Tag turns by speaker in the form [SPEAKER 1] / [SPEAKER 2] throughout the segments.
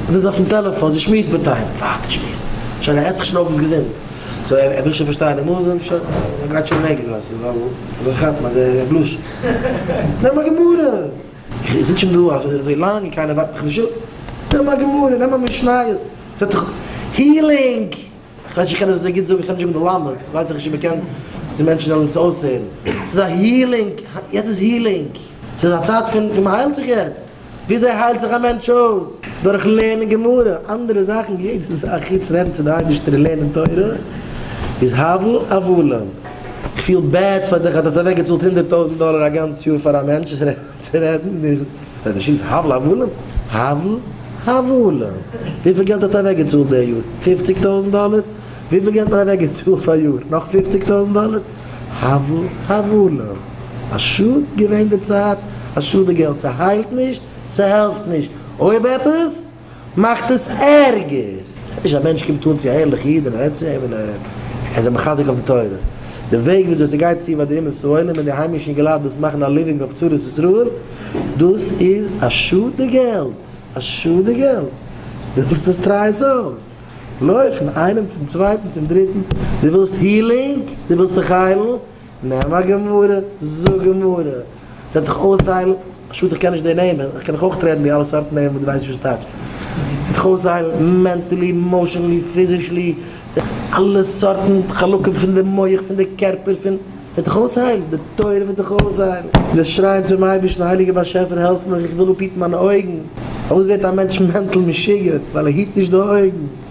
[SPEAKER 1] ער איז אויפן טעלעפאן, זי שמועסט מיט איינעם. ווארט ער שמועסט שוין, ער עסט זיך שוין אויף דאס געזונט. סאו ער וויל שוין פארשטיין, ער מוז אים שוין, ער גרייט שוין נעגל ווייל ס'איז נאך אזוי כאפן אזוי בלאש. נעם א גמרא! איך זיץ שוין דא אזוי לאנג און קיינער ווארט מיך נישט אפ. נעם א גמרא, נעם א משניות, ס'וועט דיך הילינג! כ'ווייס נישט איך קען עס אזוי גוט זאגן, איך האב נישט געלמד'ט, ווייס איך נישט אויב מ'קען צו מענטשן זאלן עס אויסהערן, ס'איז א הילינג, יעצט איז הילינג, ס'איז א צייט פון פון מ'היילט זיך יעצט, וויאזוי היילט זיך א מענטש אויס? דורך לערנען גמרא, אנדערע זאכן, יעדע זאך חוץ רעדן צו די אייבערשטער און לערנען תורה איז הבל הבלים, כ'פיל בעד פאר דיך אז דו האסט אוועקגעצאלט הונדערט טויזנט דאלער א גאנץ יאר פאר א מענטש. צו רעדן נישט פאר די שיס הבל הבלים הבל הבלים וויפיל געלט האסטו אוועק געצאלט די יאר? פופציג טויזענט דאלער? וויפיל געלט האט מען אוועק געצאלט פאר יאר? נאך פופציג טויזענט דאלער? הבל הבלים א שאד געווען די צייט א שאד די געלט ס'היילט נישט ס'העלפט נישט אויב עפעס מאכט עס ערגער. ס'הייסט נישט אז א מענטש קומט אן צו א ערליכע איד און ער רעדט צו אים און ער איז אים מחזק אויף די תורה. די וועג וויאזוי ס'גייט צו ביי די אומות העולם און די היימישע אינגעלייט וואס מאכן א ליווינג אויף צרות ישראל, דאס איז א שאד די געלט! א שאד די געלט! ווילסט עס? טריי עס אויס! לויף פון איינעם צום צווייטן צום דריטן, דו ווילסט הילינג? דו ווילסט דיך היילן? נעם א גמרא, זאג גמרא, זעט דיך אויסהיילן, א שאד איך קען נישט די נעמען, איך קען דיך אויך טרעטן די אלע סארט נעמען וואס די ווייסט נישט וואס ס'טייטש, זעט דיך אויסהיילן מענטעלי, אימאושענלי, פיזישלי, אלע סארטן חלקים פון די מח, פון די קערפער, פון, זעט דיך אויסהיילן, די תורה וועט דיך אויסהיילן. וועסט שרייען צום אייבערשטן, הייליגער באשעפער העלף מיך, איך וויל אפהיטן מיינע אויגן, פארוואס ווערט א מענטש מענטל משוגע? ווייל ער היט נישט די אויגן.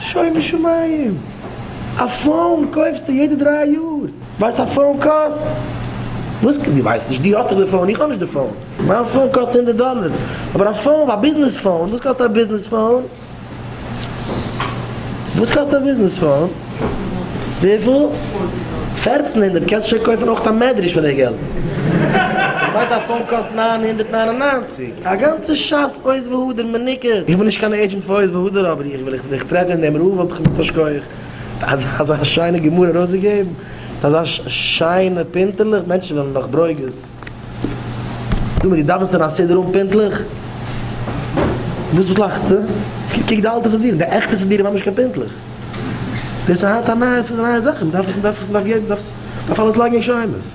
[SPEAKER 1] שומו שמים! א פאון קויפסטו יעדע דריי יאר? ווייסט א פאון קאסט? וואס? דו ווייסט נישט? דו האסט דאך די פאון, איך האב נישט די פאון. מיין פאון קאסט הונדערט דאללער, אבער א פאון, א ביזנעס פאון, וואס קאסט א ביזנעס פאון? וואס קאסט א ביזנעס פאון? וויפיל? פערצן הונדערט, קענסט שוין קויפן אויך א מעדריש פאר די געלט. כ'מיין דיין פאון קאסט נײַן הונדערט נײַן און נײַנציק. א גאנצע שס עוז והדר מניקה, איך בין נישט קיין עידזשענט פאר עוז והדר אבער איך ווען איך וועך טרעפן אין דעם רב וואלט איך מיט א שקויעך אזא שיינע גמרא ארויסגעגעבן מיט אזא שיינע פינטעלעך מענטשן וועלן נאך ברוגז דא מיט די דאווענסטען א סידור אן פינטלעך וואס וואס לאכסטו קוק די אלטע סידורים די עכטע סידורים האבן נישט קיין פינטלעך דאס איז היינט א נייע זאך מען דארף דארף דארף דארף אלעס לייגן אין שיימעס.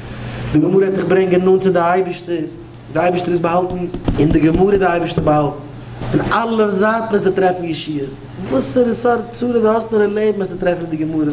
[SPEAKER 1] די גמרא וועט דיך ברענגען נאנט צו די אייבערשטער, די אייבערשטער איז באהאלטן אין די גמרא, די אייבערשטער באהאלט אין אלע זייטן וועסטו טרעפן ישועות, וואסערע סארט צרות די האסט נאר אין לעבן וועסטו טרעפן אין די גמרא.